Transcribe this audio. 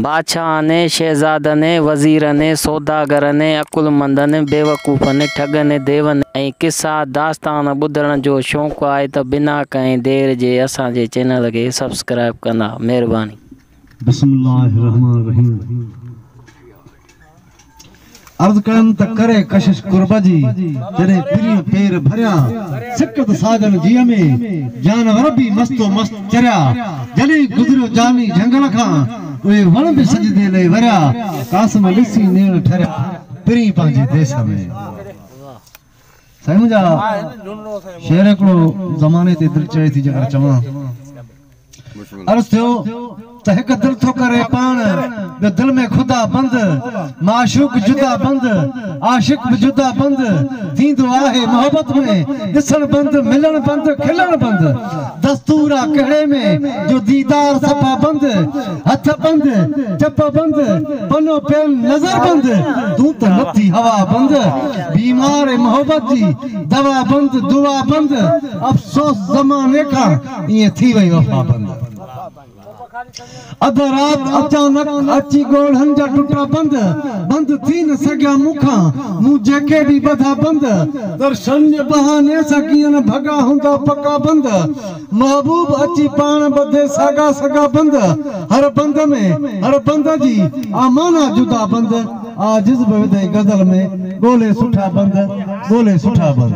بادشاهن ۽ شهزادن ۽ وزيرن ۽ سوداگرن ۽ عقلمندن ۽ بيوقوفن ۽ ٺڳن ۽ ديون ۽ قصا داستان ٻڌڻ جو شونق آهي ته بنا ڪنهن دير جي اسان جي چينل کي سبسڪرائيب ڪندا مهرباني. بسم الله الرحمٰن الرحيم. عرض ڪيم ته ڪري ڪشش قرب جي، جڏهن پرين پير ڀريان، سڪت ساڳن جيء ۾، جانور به مست و مست چريا، جڏهن گذريو جاني جهنگل کان، اهي وڻ به سجدي لئي وريا، قاسم ڏسي نيڻ ٺريا، پرين پنهنجي ديس ۾. سائين منهنجا شعر هڪڙو زماني تي دل چڙهي ٿي جيڪر چوان عرض ٿيو ته هڪ دل ٿو ڪري پاڻ ٻيو دل ۾ خدا بند معشوق جدا بند عاشق به جدا بند ٿيندو آهي محبت ۾ ڏسڻ بند ملڻ بند کلڻ بند دستور آ ڪهڙي ۾ جو ديدار صفا بند هٿ بند، چپ بند، پنو پين نظر بند، تون ته لٿي هوا بند، بيمار اي محبت جي دوا بند، دعا بند، افسوس زماني کان ائين ٿي وئي وفا بند. اڌ رات اچانڪ اچي ڳوڙهن جا ٽٽا بند، بند ٿي نه سگهيا مون کان، مون جيڪي به ٻڌا بند، درشن جي بهاني سان ڪيئن نه ڀڳا هوندا پڪا بند، محبوب اچي پاڻ ٻڌي ساڳا سڳا بند، هر بند ۾ هر بند جي آ معنيٰ جدا بند، آ جز به وڌئي غزل ۾ ڳولي سٺا بند، ڳولي سٺا بند.